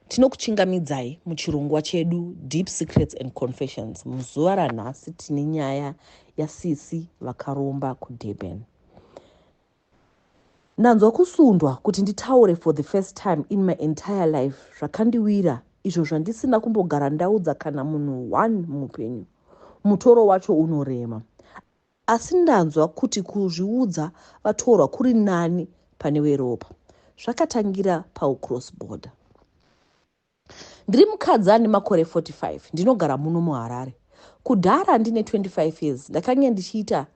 Tinokuchingamidzai muchirongwa chedu Deep Secrets and Confessions. Muzuva ranhasi tine nyaya yasisi vakaromba kuDurban. Ndanzwa kusundwa kuti nditaure for the first time in my entire life zvakandiwira izvo zvandisina kumbogara ndaudza kana munhu one muupenyu. Mutoro wacho unorema. Asi ndanzwa kuti kuzviudza vatorwa kuri nani pane weropa. Zvakatangira paucross border. Ndiri mukadzi ane makore 45 ndinogara muno muHarare. Kudhara ndine 25 years ndakange ndichiita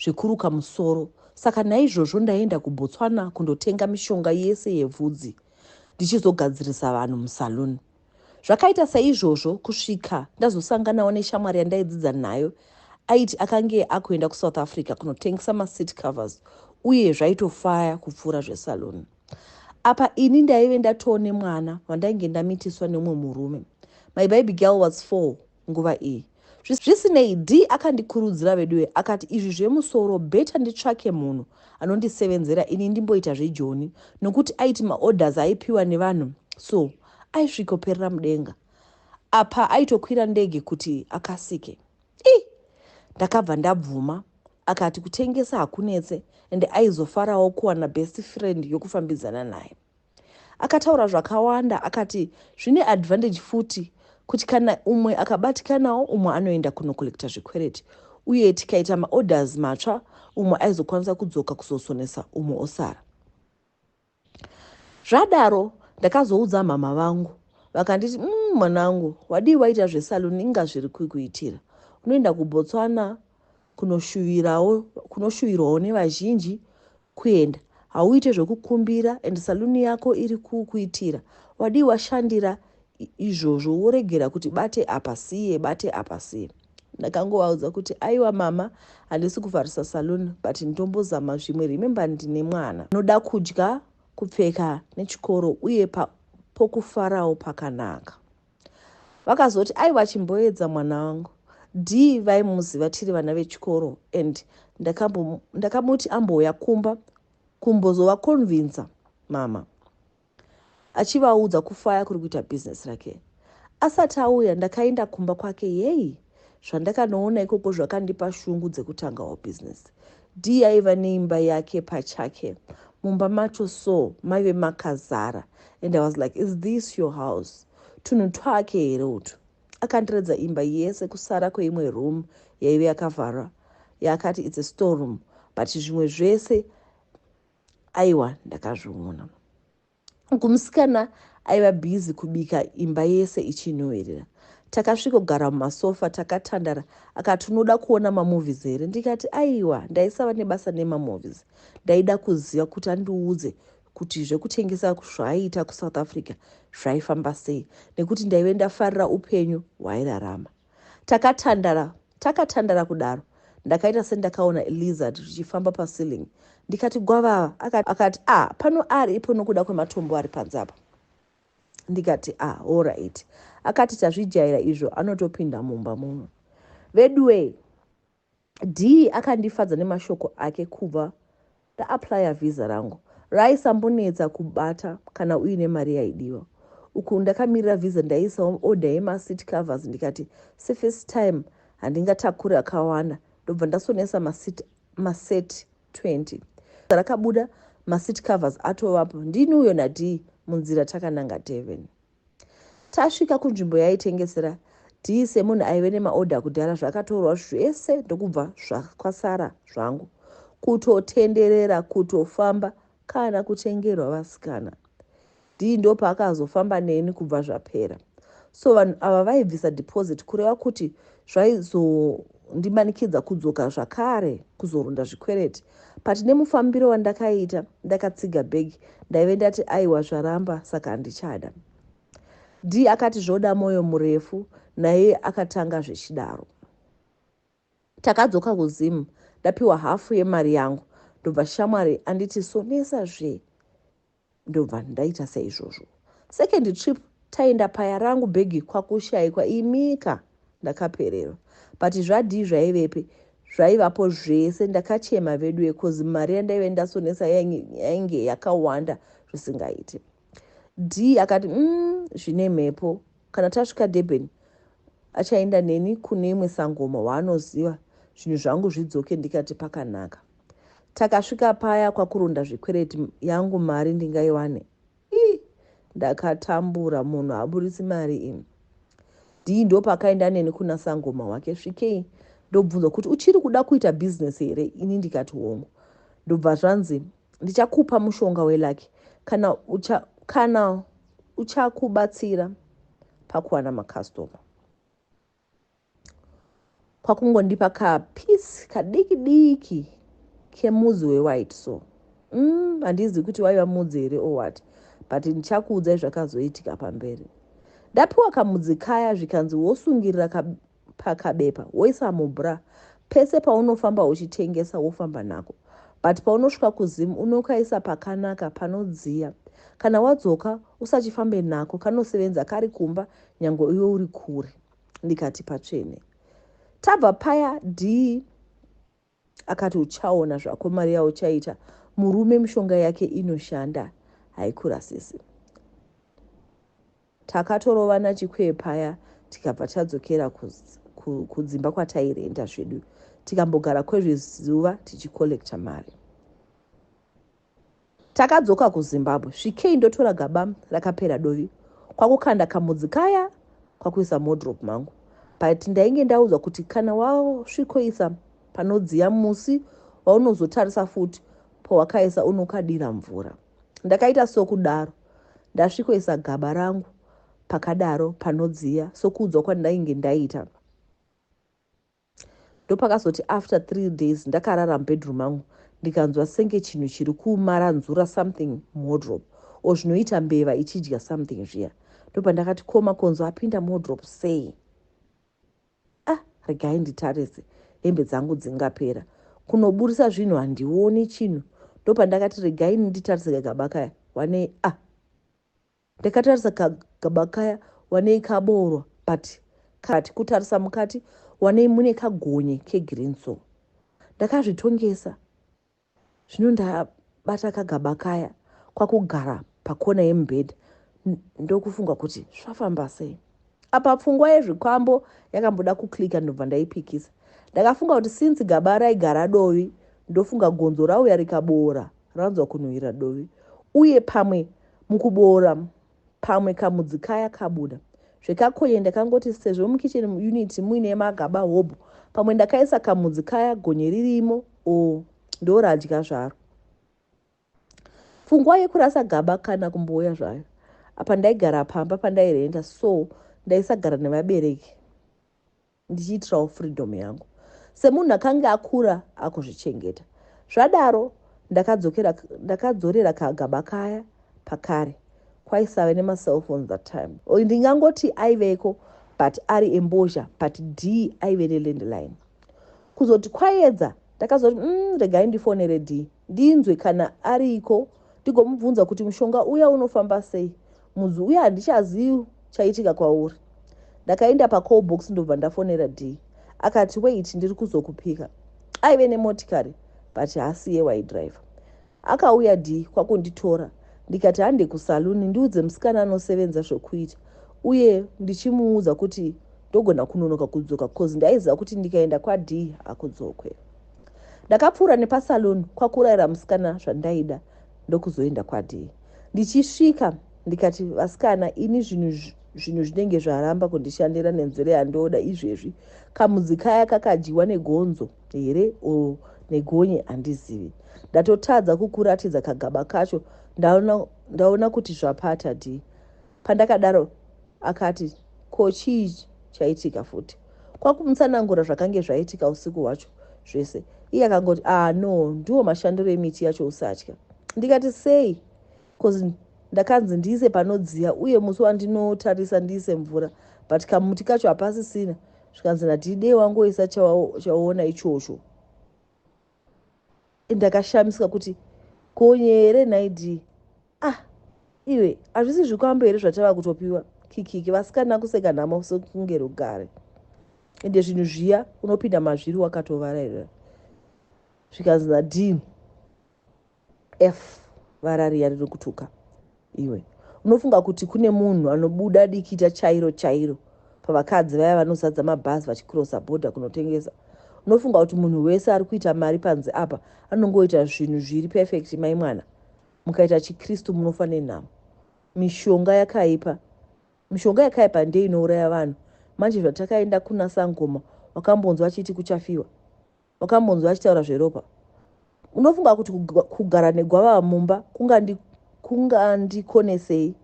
zvekuruka musoro saka naizvozvo ndaienda kuBotswana kundotenga mishonga yese yevhudzi ndichizogadzirisa vanhu musaloon. Zvakaita saizvozvo kusvika ndazosanganawo neshamwari yandaidzidza nayo aiti akange akuenda kuSouth Africa kunotengesa maseat covers uye zvaitofaya kupfuura zvesalon. Apa ini ndaive ndatoone mwana wandainge ndamitiswa neumwe murume. My baby girl was four nguva iyi. Zvisinei, Dee akandikurudzira veduwe akati izvi zvemusoro better nditsvake munhu anondisevenzera ini ndimboita zvejoni nokuti aiti maorders aipiwa nevanhu so aisvikoperera mudenga apa aitokwira ndege kuti akasike. Ii! Ndakabva ndabvuma. Akati kutengesa hakunetse and aizofarawo kuwana best friend yokufambidzana naye. Akataura zvakawanda akati zvine advantage futi kuti kana umwe akabatikanawo umwe anoenda kunocollecta zvikwereti uye tikaita maorders matsva umwe aizokwanisa kudzoka kuzosonesa umwe osara zvadaro ndakazoudza mhamha vangu vakanditi mm, mwanangu wadii waita zvesaluni inga zviri kukuitira unoenda kubotswana kunoshuvirawo kunoshuvirwawo nevazhinji kuenda hauite zvekukumbira and saluni yako iri kukuitira wadii washandira izvozvo woregera kuti bate apa siye bate apa siye ndakangovaudza kuti aiwa mama handisi kuvharisa saluni but ndombozama zvimwe remember ndine mwana noda kudya kupfeka nechikoro uye pokufarawo pakanaka vakazoti aiwa chimboedza mwana wangu dee vaimuziva tiri vana vechikoro and ndakamuti ambouya kumba kumbozovakonvinza mama achivaudza kufaya kuri kuita business rake asati auya ndakainda kumba kwake yei Zvandakanoona ikoko zvakandipa shungu dzekutangawo business. Dee aiva neimba yake pachake. Mumba macho so maive makazara and I was like is this your house? Tunhu twake here utu? Akandiratidza imba yese kusara kweimwe room yaive yakavharwa yaakati it's a storeroom but zvimwe zvese aiwa ndakazviona. uku musikana aiva busy kubika imba yese ichinhuhwirira takasvikogara mumasofa takatandara akati unoda kuona mamovies here ndikati aiwa ndaisava nebasa nemamovies ndaida kuziva kuti andiudze kuti zvekutengesa zvaaiita kusouth africa zvaifamba sei nekuti ndaive ndafarira upenyu hwaairarama Takatandara takatandara kudaro ndakaita sendakaona lizard richifamba paceiling ndikati gwavava akati akati a ah, pano ari ipo nokuda kwematombo ari panze apa ndikati a ah, horaiti akati tazvijaira izvo anotopinda mumba muno veduwee Dee akandifadza nemashoko ake kubva ndaaplyer visa rangu raisambonetsa kubata kana uine mari yaidiwa. Uku ndakamirira visa ndaiisawo order yemaseat covers ndikati sefirst time handingatakure akawanda ndobva ndasonesa maseat maset 20. Visa rakabuda maseat covers atovapo ndini uyo naDee munzira takananga Durban. Tasvika kunzvimbo yaitengesera tii semunhu aive nemaorder kudhara zvakatorwa zvese ndokubva zvakwasara zvangu kutotenderera kutofamba kana kutengerwa vasikana dii ndopaakazofamba neni kubva zvapera so vanhu ava vaibvisa deposit kureva kuti zvaizondimanikidza kudzoka zvakare kuzoronda zvikwereti But nemufambiro wandakaita ndakatsiga bag ndaive ndati aiwa zvaramba saka handichada. Dee akati zvoda moyo murefu naye akatanga zvechidaro. Takadzoka kuZim ndapiwa half yemari yangu ndobva shamwari anditi sonesa zvee. Ndobva ndaita saizvozvo. Second trip taenda paya rangu bhegi kwakushaikwa imika ndakapererwa but zvadii zvaivepi zvaivapo zvese ndakachema veduwe coz mari yandaive ndasonesa yainge yakawanda zvisingaiti. Dee akati umm zvine mhepo kana tasvika Durban achaenda neni kune imwe sangoma waanoziva zvinhu zvangu zvidzoke ndikati pakanaka. Takasvika paya kwakuronda zvikwereti yangu mari ndingaiwane ii ndakatambura munhu aburitsi mari imi dii ndopakaenda neni kuna sangoma wake svikei ndobvunzwa kuti uchiri kuda kuita business here ini ndikati hongu ndobva zvanzi ndichakupa mushonga welaki kana ucha, kana uchakubatsira pakuwana makastoma kwakungondipa kapiece kadiki diki kemudzi wewhite so mm, handizivi mm, kuti waiva mudzi here or what but ndichakuudzai zvakazoitika pamberi ndapiwa kamudzi kaya zvikanzi wosungirira ka, pakabepa woisa mubra pese paunofamba uchitengesa wofamba nako but paunosvika kuzim unokaisa pakanaka panodziya kana wadzoka usachifambe nako kanosevenza kari kumba nyangwe iwe uri kure ndikati patsvene tabva paya dii akati uchaona zvako mari yauchaita murume mishonga yake inoshanda haikurasisi takatorovana chikwee paya tikabva tadzokera kudzimba kwatairenda zvedu tikambogara kwezvezuva tichikollecta mari Takadzoka kuZimbabwe svikei ndotora gaba rakapera dovi kwakukanda kamudzi kaya kwakuisa modrop mangu but ndainge ndaudzwa kuti kana wasvikoisa panodziya musi waunozotarisa futi pawakaisa unokadira mvura ndakaita sokudaro ndasvikoisa gaba rangu pakadaro panodziya sokuudzwa kwandainge ndaita Ndopakazoti after three days ndakarara mubedroom mangu ndikanzwa senge chinhu chiri kumaranzura something muwardrobe or zvinoita mbeva ichidya something zviya. Ndopandakati ko Makonzo apinda muwardrobe sei? Ah regai nditarise hembe dzangu dzingapera. Kunoburitsa zvinhu handioni chinhu. Ndopandakati regai nditarise kagaba kaya wanei ah. Ndakatarisa kagaba kaya wanei kaboorwa but kati kutarisa mukati wanei mune kagonye kegreen so ndakazvitongesa zvino ndabata kagaba kaya kwakugara pakona yemubhedha ndokufunga kuti zvafamba sei. apa pfungwa yezvikwambo yakamboda kuclicker ndobva ndaipikisa ndakafunga kuti since gaba raigara dovi ndofunga gonzo rauya rikaboora ranzwa kunhuhwira dovi uye pamwe mukuboora pamwe kamudzi kaya kabuda zvekakonye ndakangoti sezvo mukitchen unit muine magaba hobho pamwe ndakaisa kamudzi kaya gonye ririmo o ndoradya zvaro Pfungwa yekurasa gaba kana kumbouya zvayo. Apa ndaigara pamba pandairenta so ndaisagara nevabereki ndichiitirawo freedom yangu semunhu akange akura akuzvichengeta. Zvadaro ndakadzokera ndakadzorera kagaba kaya pakare kwaisave nemacellphone that time. Ndingangoti aiveko but ari embozha but d aive nelandline. Kuzoti kwayedza ndakazoti mm, regai ndifonere d ndinzwe kana ariko ndigomubvunza kuti mushonga uya unofamba sei mudzi uya handichazivi chaitika kwauri ndakaenda pacall box ndobva ndafonera dee akati wait ndiri kuzokupika aive nemotikari but hasi yewaidriver akauya dee kwakunditora ndikati hande kusaluni ndiudze musikana anosevenza zvokuita uye ndichimuudza kuti ndogona kunonoka kudzoka bcoz ndaiziva kuti ndikaenda kwadee hakudzokwe Ndakapfuura nepasaloon kwakuraira musikana zvandaida ndokuzoenda kwadii. Ndichisvika ndikati vasikana ini zvinhu zvinhu zvinenge zvaramba kundishandira nenzira yandoda izvezvi kamudzi kaya kakadyiwa negonzo here o negonye handizivi ndatotadza kukuratidza kagaba kacho ndaona, ndaona kuti zvapata dii Pandakadaro akati ko chii chaitika futi kwakumutsanangura zvakange zvaitika usiku hwacho zvese iye akangoti ah no ndiwo mashandiro emiti yacho usatya ndikati sei bcoz ndakanzi ndiise panodziya uye musi wandinotarisa ndiise mvura but kamuti kacho hapasisina zvikanzi nadhidei wangoisa chawaona ichocho ndakashamisika kuti konye here nhai dii ah iwe hazvisi zvikwambo here zvatava kutopiwa kikiki vasikana kuseka nhamo sekunge rugare ende zvinhu zviya unopinda mazviri wakatovararira zvikanzi nadini F varariya riri kutuka iwe unofunga kuti kune munhu anobuda dikita chairo chairo pavakadzi vaya vanozadza mabhazi vachikrosa bhodha kunotengesa unofunga kuti munhu wese ari kuita mari panze apa anongoita zvinhu zviri perfect mai mwana mukaita chikristu munofa nenhamo mishonga yakaipa mishonga yakaipa ndei inouraya vanhu manje zvatakaenda kuna sangoma wakambonzwa achiti kuchafiwa Wakambonzwa achitaura zveropa? Unofunga kuti kugara negwavava mumba kungandikonesei?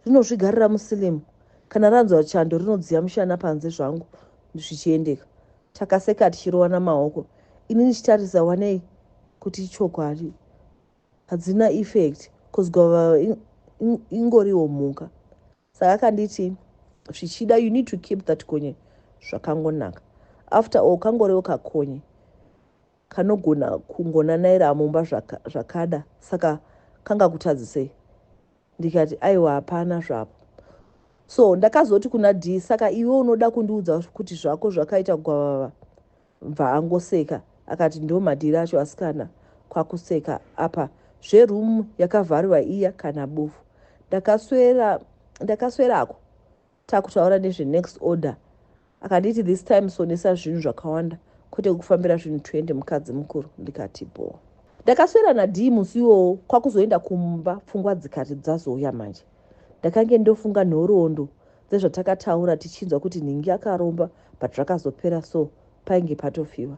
Rinozvigarira musilimu. Kana ranzwa chando rinodziya mushana panze zvangu zvichiendeka. Takaseka tichirovana maoko. Ini ndichitarisa wanei kuti ichokwadi. Hadzina effect cause gwavava ingoriwo mhuka. Saka akanditi zvichida you need to keep that konye zvakangonaka after all kangorewo kakonye kanogona kungonanaira mumba zvaka, zvakada saka kanga kutadzisei ndikati aiwa hapana zvapo so ndakazoti kuna d saka iwe unoda kundiudza kuti zvako zvakaita gwavava Bva angoseka akati ndo madhiri acho asikana kwakuseka apa zve room yakavhariwa iya kana bofu ndakaswera ndakaswerako takutaura nezve next order akanditi this time sonesa zvinhu zvakawanda kwete kukufambira zvinhu 20 mukadzi mukuru ndikati bho ndakaswera nadii musi iwowo kwakuzoenda kumba pfungwa dzikati dzazouya manje ndakange ndofunga nhoroondo dzezvatakataura tichinzwa kuti nhingi akaromba but zvakazopera so painge patofiwa.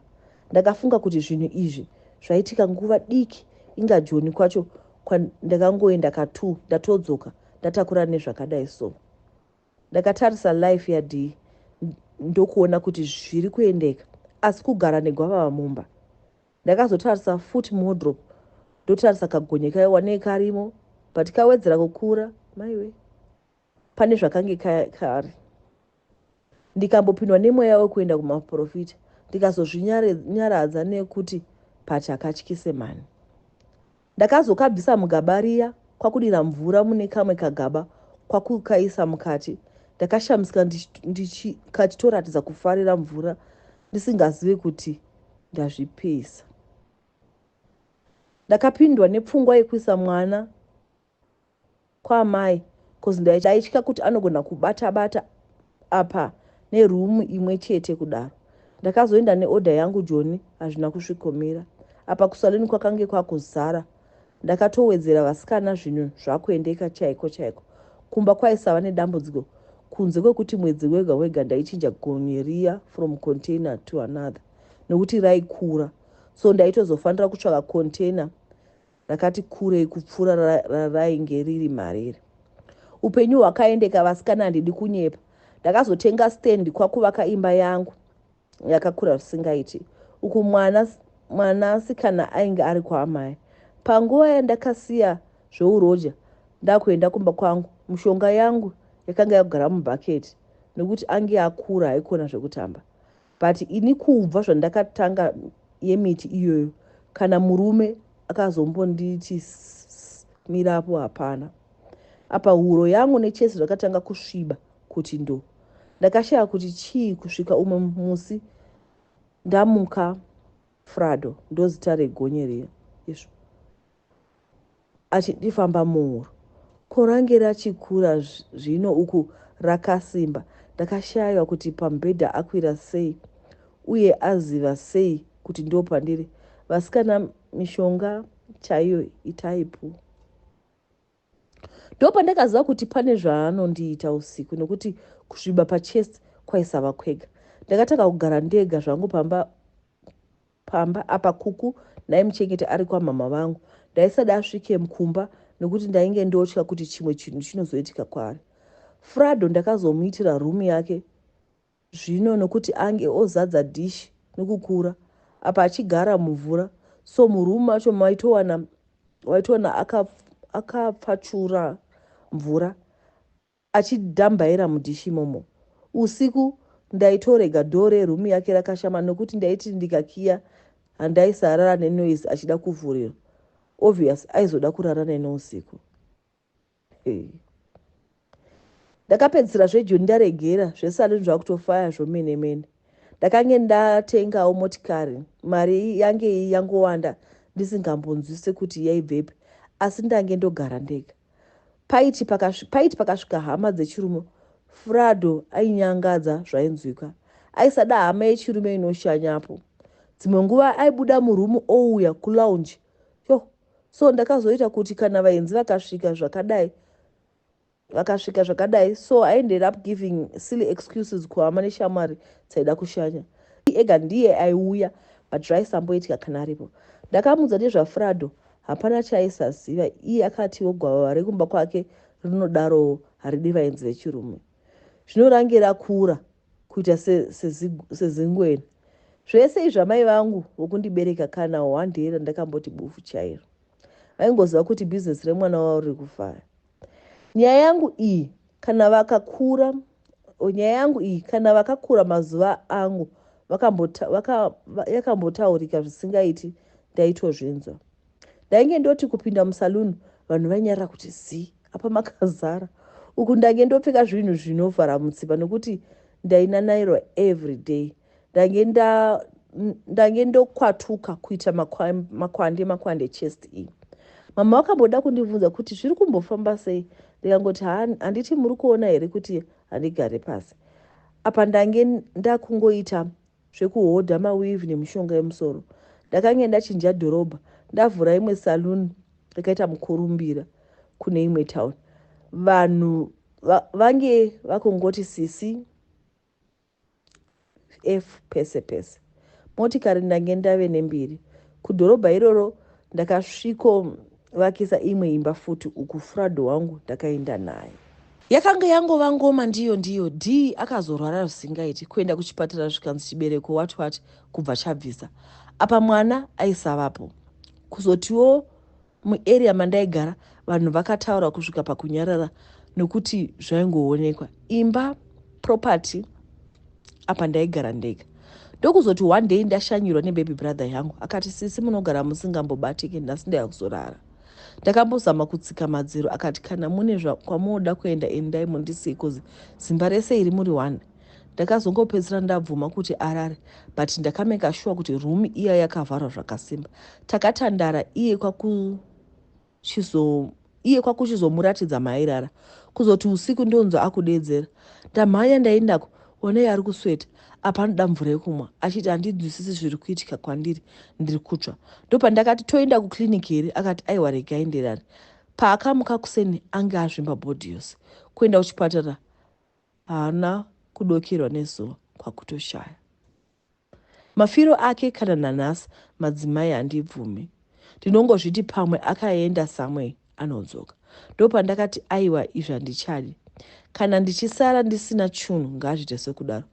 Ndakafunga kuti zvinhu izvi zvaitika nguva diki inga Joni kwacho kwandakangoenda ka two ndatodzoka ndatakura nezvakadai so. Ndakatarisa life yadii ndokuona kuti zviri kuendeka asi kugara negwavava mumba. Ndakazotarisa foot modrop ndotarisa kagonye kayo wanei karimo but kawedzera kukura maiwe pane zvakange kari ka ndikambopindwa nemweya wekuenda kumaporofita ndikazozvinyaradza nekuti patya katyise mhani ndakazokabvisa mugaba riya kwakudira mvura mune kamwe kagaba kwakukaisa mukati ndakashamisika ndikachitoratidza kufarira mvura ndisingazivi kuti ndazvipisa ndakapindwa nepfungwa yekuisa mwana kwaamai coz ndaitya kuti anogona kubata bata apa neroom imwe chete kudaro. Ndakazoenda neorder yangu Joni hazvina kusvikomira apa kusaloon kwakange kwakuzara ndakatowedzera vasikana zvinhu zvakuendeka chaiko chaiko. Kumba kwaisava nedambudziko kunze kwekuti mwedzi wega wega ndaichinja gonye riya from container to another nokuti raikura so ndaitozofanira kutsvaka container rakati kurei kupfuura rarainge riri mariri upenyu hwakaendeka vasikana handidi kunyepa ndakazotenga stand kwakuvaka imba yangu yakakura zvisingaiti uku mwana mwanasikana ainge ari kwaamai panguva yandakasiya zveuroja ndakuenda kumba kwangu mushonga yangu yakanga yakugara mubhaketi nekuti ange akura haikona zvekutamba But ini kubva zvandakatanga yemiti iyoyo kana murume akazombonditi mira apo hapana. Apa huro yangu nechest zvakatanga kusviba kuti ndo. Ndakashaya kuti chii kusvika umwe musi ndamuka Frado ndozita regonye riya. Yesvo. achitifamba muhuro ko range rachikura zvino uku rakasimba ndakashaiwa kuti pamubhedha akwira sei uye aziva sei kuti ndopandiri vasikana mishonga chaiyo itaipu ndopandakaziva kuti pane zvaanondiita usiku nekuti kusviba pachest kwaisava kwega ndakatanga kugara ndega zvangu pamba pamba apa kuku naye muchengeti ari kwamama vangu ndaisada asvike kumba nekuti ndainge ndotya kuti chimwe chinhu chinozoitika kwaari frado ndakazomuitira room yake zvino nokuti ange ozadza dish nekukura apa achigara mumvura so muroom macho maitowana waitoona akapfachura mvura achidambaira mudish imomo usiku ndaitorega door reroom yake rakashama nokuti ndaiti ndikakiya handaisarara nenoise achida kuvhurirwa obvious aizoda kurara nene usiku ndakapedzisira zvejuni ndaregera zvesaluni zvakutofaya zvomene mene ndakange ndatengawo motikari mari yange iyi yangowanda ndisingambonzwise kuti yaibvepi asi ndange ndogara ndega paiti paiti pakasvika hama dzechirume frado ainyangadza zvainzwika aisada hama yechirume inoshanyapo dzimwe nguva aibuda murumu ouya kulounge yo so ndakazoita kuti kana vaenzi vakasvika zvakadai vakasvika zvakadai so i ended up giving silly excuses kuhama neshamwari dzaida kushanya ega ndiye aiuya but zvaisamboitika kana aripo ndakamudza nezvafrado hapana chaisaziva iye akatiwo gwavava rekumba kwake rinodarowo haridi vaenzi vechirume zvinorange rakura kuita sezingwena zvese izvi amai vangu vokundibereka kana one day randakamboti bufu chairo vaingoziva kuti bhizinesi remwana wavo riri kufara nyaya yangu iyi kana vakakura nyaya yangu iyi kana vakakura mazuva angu yakambotaurika zvisingaiti ndaitozvinzwa ndainge ndoti kupinda musaluni vanhu vainyarira kuti zii apa makazara uku ndainge ndopfeka zvinhu zvinovhara mutsipa nokuti ndainanairwa every day ndainge ndokwatuka kuita makwande makwande chest iyi mama vakamboda kundibvunza kuti zviri kumbofamba sei ndikangoti handiti muri kuona here kuti handigare pasi apa ndainge ndakungoita zvekuhodha maweave nemishonga yemusoro. Ndakange ndachinja dhorobha ndavhura imwe saloon yakaita mukurumbira kune imwe town. Vanhu va, vange vakongoti sisi f pese pese. Motikari ndange ndave nembiri. Kudhorobha iroro ndakasviko Vakisa imwe imba futi uku Frado wangu ndakaenda naye. Yakanga yangova ngoma ndiyo ndiyo Dee akazorwara zvisingaiti kuenda kuchipatara zvikanzi chibereko what what kubva chabvisa apa mwana aisavapo kuzotiwo muarea mandaigara vanhu vakataura kusvika pakunyarara nokuti zvaingoonekwa imba property apa ndaigara ndega ndokuzoti one day ndashanyirwa nebaby brother yangu akati sisi munogara musingambobatiki nhasi ndayakuzorara ndakambozama kutsika madziro akati kana mune kwamunoda kuenda endai mundisii bcause zimba rese iri muri one ndakazongopedzisira ndabvuma kuti arare but ndakameka shuwa kuti room iya yakavharwa zvakasimba takatandara iye kwaku chizo iye kwakuchizomuratidza maairara kuzoti usiku ndonzwa akudeedzera ndamhanya ndaindako onei ari kusweta apa anoda mvura yekumwa achiti handinzwisisi zviri kuitika kwandiri ndiri kutsva ndopandakati toenda kuclinic here akati aiwa rega aenderane paakamuka kuseni ange azvimba bhodhi yose kuenda kuchipatara haana kudokerwa nezuva kwakutoshaya Mafiro ake kana nanhas madzimai handibvumi ndinongozviti pamwe akaenda somewhere anodzoka ndopandakati aiwa izvi handichadi kana ndichisara ndisina chunhu ngaazvite sekudaro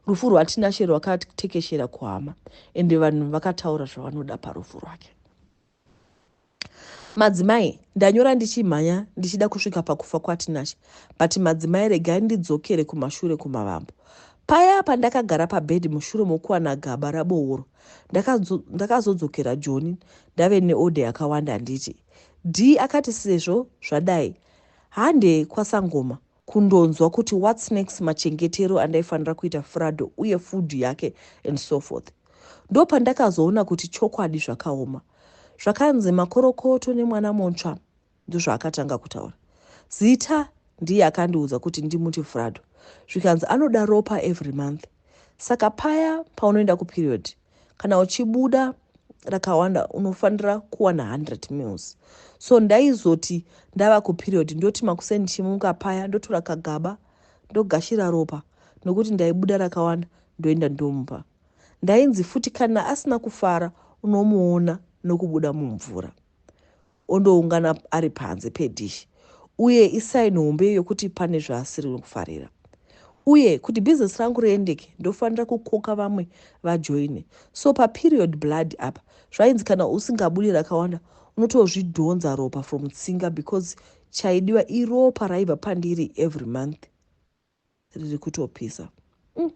rufu rwaTinashe rwakatekeshera kuhama ende vanhu vakataura zvavanoda parufu rwake. Madzimai ndanyora ndichimhanya ndichida kusvika pakufa kwaTinashe but madzimai regai ndidzokere kumashure kumavambo. Paya pandakagara pabed mushure mokuwana gaba rabooro ndakazodzokera Joni ndave neorder yakawanda handiti? Dee akati sezvo zvadai hande kwaSangoma kundonzwa kuti whats next machengetero andaifanira kuita frado uye food yake and so forth ndopandakazoona kuti chokwadi zvakaoma zvakanzi makorokoto nemwana montsva ndozvaakatanga kutaura zita ndiye akandiudza kuti ndimuti frado zvikanzi anoda ropa every month saka paya paunoenda kuperiod kana uchibuda rakawanda unofanira kuwana 100 mils so ndaizoti ndava kuperiod ndoti makuseni ndichimuka paya ndotora kagaba ndogashira ropa nokuti ndaibuda rakawanda ndoenda ndomupa ndainzi futi kana asina kufara unomuona nokubuda mumvura ondoungana ari panze pedhishi uye isaini hombe yokuti pane zvaasiri kufarira. Uye kuti bhizinesi rangu riendeke ndofanira kukoka vamwe vajoine. So paperiod blood apa zvainzi kana usingabudi rakawanda unotozvidhonza ropa from tsinga because chaidiwa iropa raibva pandiri every month. riri kutopisa mm.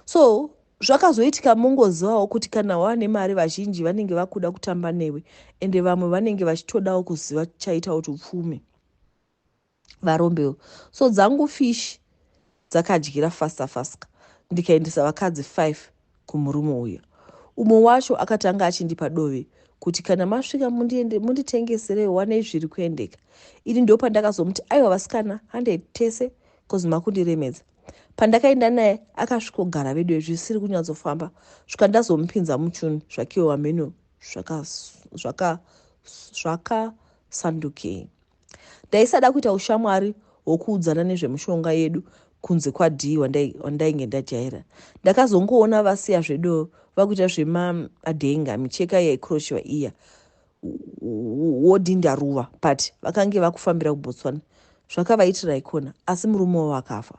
so zvakazoitika mongozivawo kuti kana wava nemari vazhinji vanenge vakuda kutamba newe ende vamwe vanenge vachitodawo kuziva chaita kuti upfume varombewo so dzangu fish dzakadyira fasta fasta ndikaendesa vakadzi five kumurume uya. Umwe wacho akatanga achindipa dove kuti kana masvika mundiende munditengeserewo wanei zviri kuendeka. Ini ndo pandakazomuti aiwa vasikana handei tese cause makundiremedza. Pandakaenda naye akasvikogara veduwe zvisiri kunyatsofamba svika ndazomupinza muchuni zvakewo hameno zvakasandukei. Zvaka, zvaka Ndaisada kuita ushamwari hwokuudzana nezvemushonga yedu kunze kwadii wandainge ndajaira. Ndakazongoona vasiya zvedo vakuita zvemaadenga micheka yaikrochiwa iya wodinda ruva but vakange vakufambira kubotswana zvakavaitira ikona asi murume wavo akafa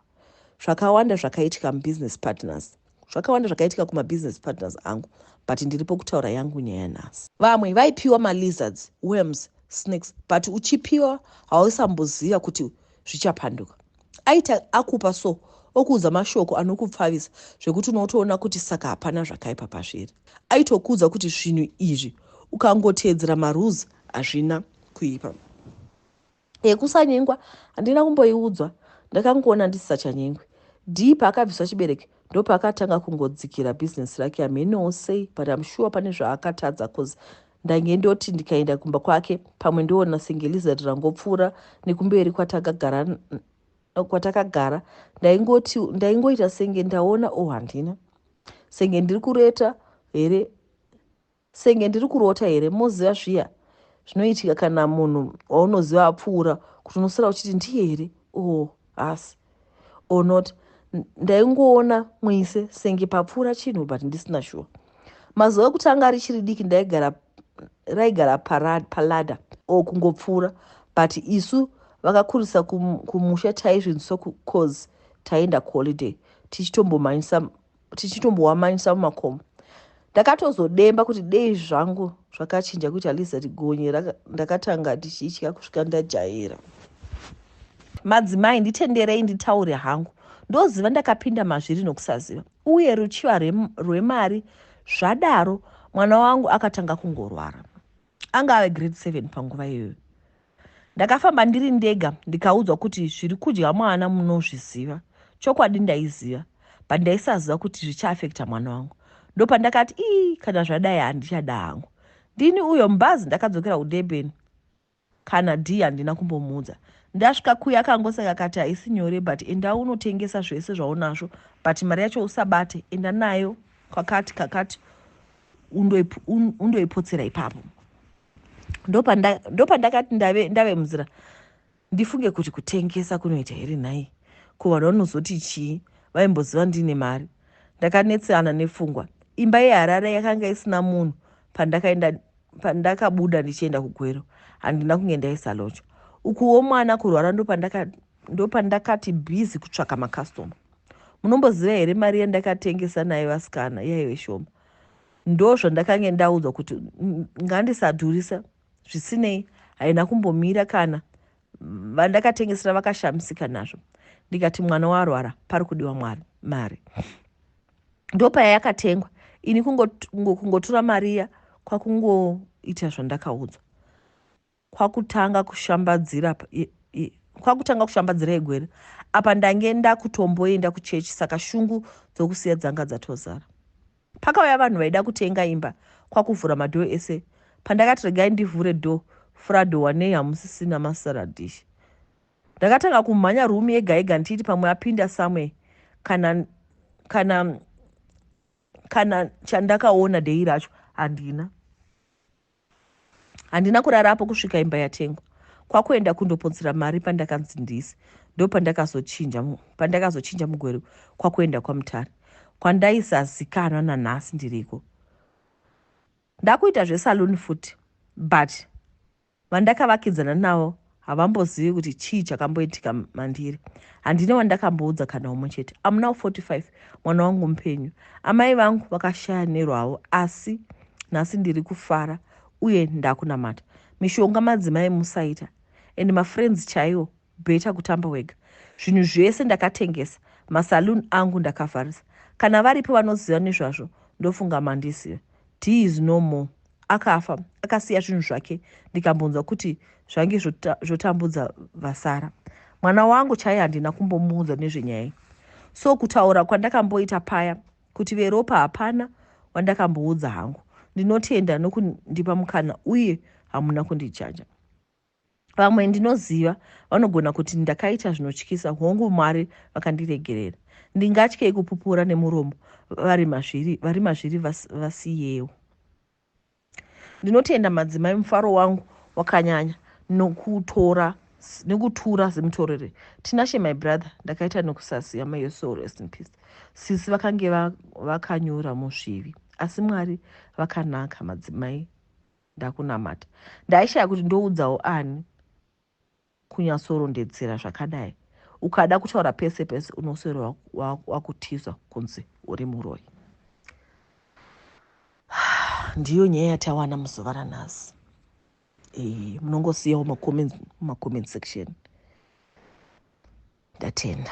zvakawanda zvakaitika mubusiness partners Zvakawanda zvakaitika kuma business partners angu but ndiripo kutaura yangu nyaya nhasi. Vamwe vaipiwa ma lizards, worms, snakes but uchipiwa hausamboziva kuti zvichapanduka. Aita akupa so okuudza mashoko anokupfavisa zvekuti unotoona kuti saka hapana zvakaipa pazviri. Aitokuudza kuti zvinhu izvi ukangoteedzera marules hazvina kuipa. yekusanyengwa handina kumboiudzwa ndakangoona ndisisachanyengwi dii paakabviswa chibereke ndopaakatanga kungodzikira business rake hamhenowo sei but am sure pane zvaakatadza cause ndange ndoti ndikaenda kumba kwake pamwe ndoona senge lizard rangopfuura nekumberi kwatakagara kwatakagara ndaingoti ndaingoita senge ndaona o oh, handina senge ndiri kureta here Senge ndiri kurota here? Moziva zviya zvinoitika kana munhu waunoziva apfuura kuti unosara uchiti ndiye here o oh, hasi o oh, not ndaingoona mwise senge papfuura chinhu but ndisina shuwa mazuva ekutanga richiri diki ndaigara raigara palada o oh, kungopfuura but isu vakakurisa kumusha taizvinzwisa cause taienda kuholiday tichitombomhanyisa tichitombohwamanyisa mumakomo ndakatozodemba kuti dei zvangu zvakachinja kuti aliza rigonye ndakatanga ndichitya kusvika ndajaira madzimai nditenderei nditaure hangu ndoziva ndakapinda mazviri nokusaziva uye ruchiva rwemari zvadaro mwana wangu akatanga kungorwara Anga ave grade seven panguva iyoyo. Ndakafamba ndiri ndega ndikaudzwa kuti zviri kudya mwana munozviziva. Chokwadi ndaiziva but ndaisaziva kuti zvichaafekta mwana wangu. Ndopandakati ii kana zvadai handichada hangu. Ndini uyo mbazi ndakadzokera kuDurban kana Dee handina kumbomuudza. Ndasvika kuya akangoseka akati haisi nyore but enda unotengesa zvese zvaunazvo but mari yacho usabate enda nayo kwakati kakati undoipotsera ipapo ndopandakati ndave, ndave munzira ndifunge kuti kutengesa kunoita here nhai ko vanhu vanozoti chii vaimboziva ndiine mari ndakanetsana nepfungwa imba yeharare yakanga isina munhu pandakaenda pandakabuda ndichienda kugwero handina kunge ndaisalocha ukuwo mwana kurwara ndopandaka Ndopandakati busy kutsvaka macustomer. Munomboziva here mari yandakatengesa nayo vasikana yaive shoma. Ndozvandakange ndaudzwa kuti ngandisadhurisa zvisinei haina kumbomira kana vandakatengesera vakashamisika nazvo ndikati mwana warwara pari kudiwa mwari mari ndopaya yakatengwa ini kungotora mariya kwakungoita zvandakaudzwa kwakutanga kushambadzira kwakutanga kushambadzira egwere apa ndange ndakutomboenda kuchechi saka shungu dzokusiya dzanga dzatozara pakauya vanhu vaida kutenga imba kwakuvhura madhoo ese pandakati regai ndivhure dho frado wanei hamusisina masaradish ndakatanga kumhanya rumi yega yega ndichiti pamwe apinda somewhere kana kana kana chandakaona dei racho handina handina kurara apo kusvika imba yatengwa kwakuenda kundopotsera mari pandakanzi ndisi ndo pandakazochinja mugwere kwakuenda kwamutare kwandaisazikanwa nanhasi ndiriko ndakuita zvesaloon futi but Vandakavakidzana navo havambozivi kuti chii chakamboitika mandiri. Handina wandakamboudza kana umwe chete. I'm now 45, mwana wangu mupenyu. Amai vangu vakashaya nerwavo asi nhasi ndiri kufara uye ndakunamata. Mishonga madzimai musaita and mafriends chaiwo better kutamba wega. Zvinhu zvese ndakatengesa, masaloon angu ndakavharisa. Kana varipo vanoziva nezvazvo ndofunga mandiziva. Dee is no more. akafa akasiya zvinhu zvake ndikambonzwa kuti zvange zvotambudza vasara mwana wangu chaiye handina kumbomuudza nezvenyaya so kutaura kwandakamboita paya kuti veropa hapana wandakamboudza hangu ndinotenda nokundipa mukana uye hamuna kundijaja Vamwe ndinoziva vanogona kuti ndakaita zvinotyisa, hongu, Mwari vakandiregerera. Ndingatyei kupupura nemuromo vari mazviri, vari mazviri vas, vasiyewo? Ndinotenda madzimai, mufaro wangu wakanyanya nokutora nekutura zimutorere tinashe my brother ndakaita nokusasiya may your soul rest in peace sisi vakange vakanyura musvivi asi mwari vakanaka madzimai ndakunamata ndaishaya kuti ndoudzawo ani kunyatsorondedzera zvakadai ukada kutaura pese pese unoswero wakutiza kunzi uri muroi ndiyo nyaya yatawana muzuva ranhasi eh, munongosiyawo macomment section ndatenda